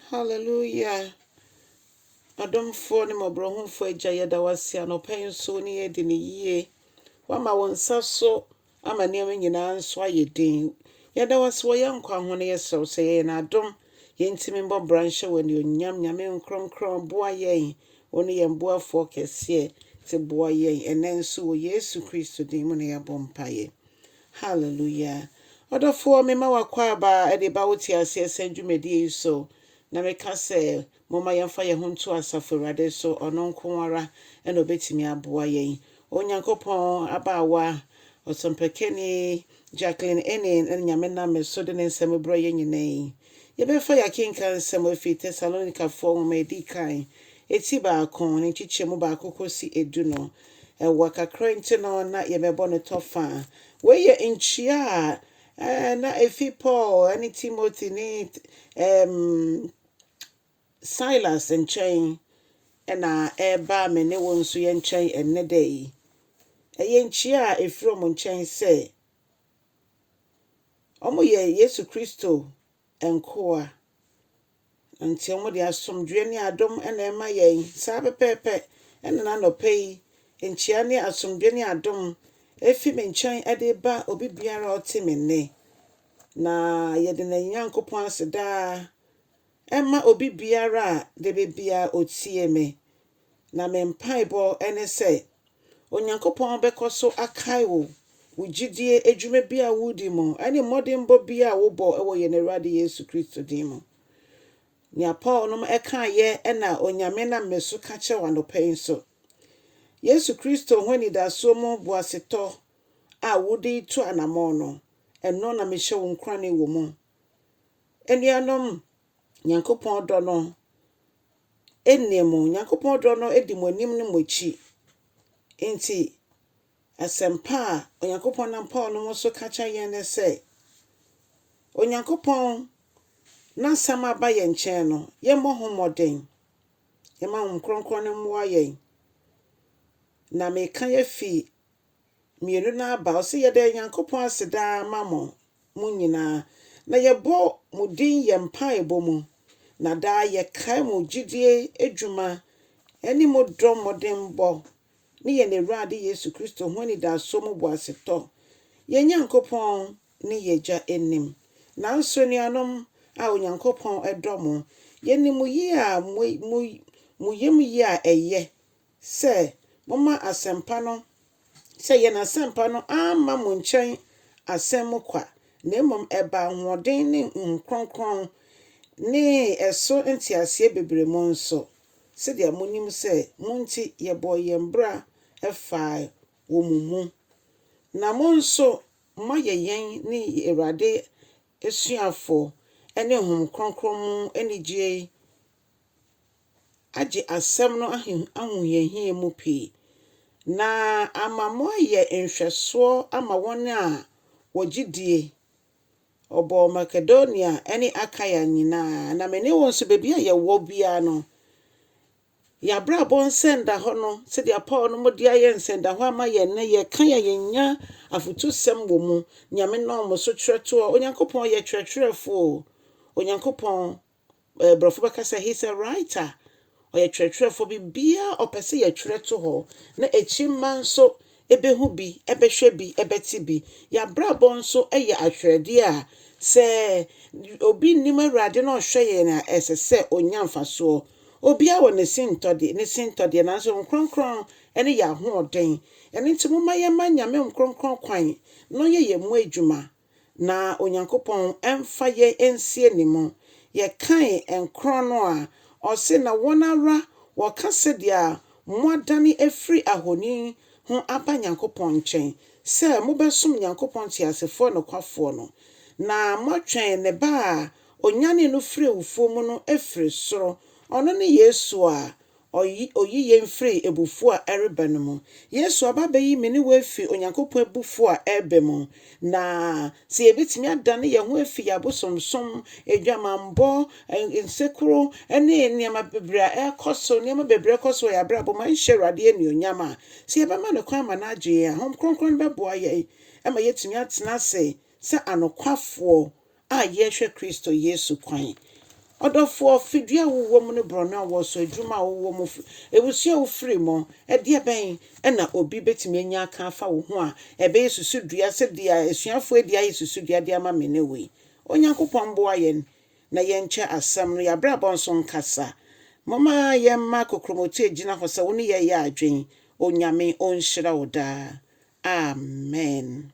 Hallelujah Ɔdomfoɔ ne mmɔborɔhunfoɔ Agya, yɛda wo ase anɔpa yi nso wo ne yɛn adi no yie. Woama wo nsa so ama nneɛma nyinaa nso ayɛ den. Yɛda wo ase wɔ yɛn nkwa ho na yɛsrɛ wo sɛ yɛ yɛn adom. Yɛntumi mmɔ bra nhyɛ wo anuonyam. Nyame nkronkron, boa yɛn. Wo ne yɛn boafoɔ kɛseɛ. Te boa yɛn ɛnnɛ nso wɔ Yesu Kristo din mu na yɛabɔ mpaeɛ. Hallelujah! Ɔdɔfoɔ, mema w'akwaaba de ba wo teaseɛsɛm dwumadie yi so, na meka sɛ, momma yɛmfa yɛn ho nto Asafo Awurade so, Ɔno nko ara na Ɔbɛtumi aboa yɛn. O Nyankopɔn, abaawa Ɔsɔmpakani Jacqueline Enning no Nyame nam me so de ne nsɛm brɛ yɛn nyinaa yi. Yɛbɛfa yɛakenkan nsɛm afi Tesalonikafoɔ nwoma a ɛdi kan, eti baako, ne nkyekyɛmu baako kɔsi edu no. Ɛwɔ kakra nti no, na yɛbɛbɔ no tɔ fã. Wei yɛ nkyia a na ɛfi Paul ne Timothy ne Silas nkyɛn na ɛreba me ne wo nso yɛn nkyɛn ɛnnɛ da yi. Ɛyɛ nkyia a ɛfiri wɔn nkyɛn sɛ Wɔyɛ Yesu Kristo nkoa, enti wɔde asomdwoeɛ ne adom na ɛrema yɛn. Saa pɛpɛɛpɛ na n'anɔpa yi nkyia ne asomdwoeɛ ne adom ɛfiri me nkyɛn de reba obi biara a ɔte me nne. Na yɛde no Nyankopɔn ase daa ɛma obi biara a da biara ɔtie me Na me mpaebɔ ne sɛ Onyankopɔn bɛkɔ so akae wo, wo gyidie, adwuma bi a woredi mu, ne mmɔdenbɔ bi a wobɔ wɔ yɛn Awurade Yesu Kristo din mu. Nea Paul nom kaeɛ na Onyame nam me so ka kyerɛ wo anɔpa yi nso. Yesu Kristo ho anidasoɔ mu boasetɔ a wode retu anamɔn no, ɛno na mehyɛ wo nkurane wɔ mu. Anuanom, Nyankopɔn dɔ no nniɛ mo, Nyankopɔn dɔ no di mo anim ne mo akyi. Enti, asɛmpa a Onyankopɔn nam Paul no mu so ka kyerɛ yɛn ne sɛ, Onyankopɔn N'asɛm a aba yɛn nkyɛn no, yɛmmɔ ho mmɔden. Yɛmma Honhom Kronkron no mmoa yɛn. Na meka yi afi mmienu no aba. Ɔse, Yɛda Nyankopɔn ase daa ma mo, mo nyinaa, na yɛbɔ mo din yɛn mpaebɔ mu, na daa yɛkae mo gyidie adwuma ne mo dɔ mmɔdenbɔ ne yɛn Awurade Yesu Kristo ho anidasoɔ mu boasetɔ, yɛn Nyankopɔn ne yɛn Agya anim. Nanso anuanom a Onyankopɔn dɔ mo, yɛnim mo yie a mo yam yie a ɛyɛ sɛ, Momma asɛmpa no, sɛ yɛn asɛmpa no amma mo nkyɛn asɛm mu kwa, na mmom ɛbaa ahoɔden ne honhom kronkron ne ɛso nteaseɛ bebree mu nso, sɛdeɛ monim sɛ mo nti yɛbɔɔ yɛn bra faa wɔ mo mu, na mo nso moayɛ yɛn ne Awurade asuafoɔ ne honhom kronkron mu anigyeɛ agye asɛm no ahohiahia mu pii, na ama moayɛ nhwɛsoɔ ama wɔn a wɔgye die. Ɔbɔɔ Makedonia ne Akaia nyinaa, na me ne wo nso, baabi a yɛwɔ biara no, yɛabrabɔ nsɛndahɔ no, sɛdeɛ Paul no mo de ayɛ nsɛndahɔ ama yɛn no, yɛka yɛ yɛnya afotusɛm wɔ mu, Nyame nam mo so kyerɛtoɔ, Onyankopɔn yɛ kyerɛkyerɛfoɔ o, Onyankopɔn Brɔfo bɛka sɛ he's a writer, ɔyɛ twerɛtwerɛfoɔ, biribiara a ɔpɛ sɛ yɛtwerɛ to hɔ na akyimma nso bɛhu bi, bɛhwɛ bi, bɛte bi. Yɛn abrabɔ nso yɛ ahwerɛdeɛ a sɛ obi nnim Awurade na ɔhwɛ yɛn a, ɛsɛ sɛ ɔnya mfasoɔ. Obiara wɔ ne sintɔde, ne sintɔdeɛ, nanso Nkronkron ne yɛn ahoɔden. Ɛno nti momma yɛmma Nyame Nkronkron kwan na ɔnyɛ yɛn mu adwuma. na Onyankopɔn mfa yɛn nsie ne mu. Yɛkae nkorɔn no a, ɔse, Na wɔn ara wɔka sɛdeɛ moadane afiri ahoni ho aba Nyankopɔn nkyɛn, sɛ mobɛsom Nyankopɔn teasefoɔ nokwafoɔ no, na moatwɛn ne ba a ɔnyanee no firii awufoɔ mu no afiri soro, ɔno ne Yesu a Ɔyi, Ɔyi yɛn firi abufuo a ɛreba no mu. Yesu aba abɛyi me ne wo afiri Onyankopɔn abufuo a ɛreba mu. Na sɛ yɛbɛtumi adane yɛn ho afiri yɛn abosomsom, adwamammɔ, nsekuro, ne nneɛma bebree a ɛrekɔ so, nneɛma bebree ɛrekɔ so wɔ yɛn abrabɔ mu a ɛnhyɛ Awurade anuonyam a, sɛ yɛbɛma No kwan ama No agye yɛn a, Honhom Kronkron no bɛboa yɛn ma yɛatumi atena ase sɛ anokwafoɔ a yɛhwɛ Kristo Yesu kwan. Ɔdɔfoɔ, fidua a wowɔ mu ne borɔno a wowɔ so, adwuma a wowɔ mu, abusua a wofiri mu, ɛdeɛ bɛn na obi bɛtumi anya aka afa wo ho a ɛbɛyɛ susudua sɛ deɛ asuafoɔ adi ayɛ susudua de ama me ne wo yi? Onyankopɔn mboa yɛn na yɛnkyɛ asɛm no, y'abrabɔ nso nkasa. Momma yɛmma kokromoti agyina hɔ sɛ wo ne yɛyɛ adwen. Onyame ɔnhyira wo daa. Amen.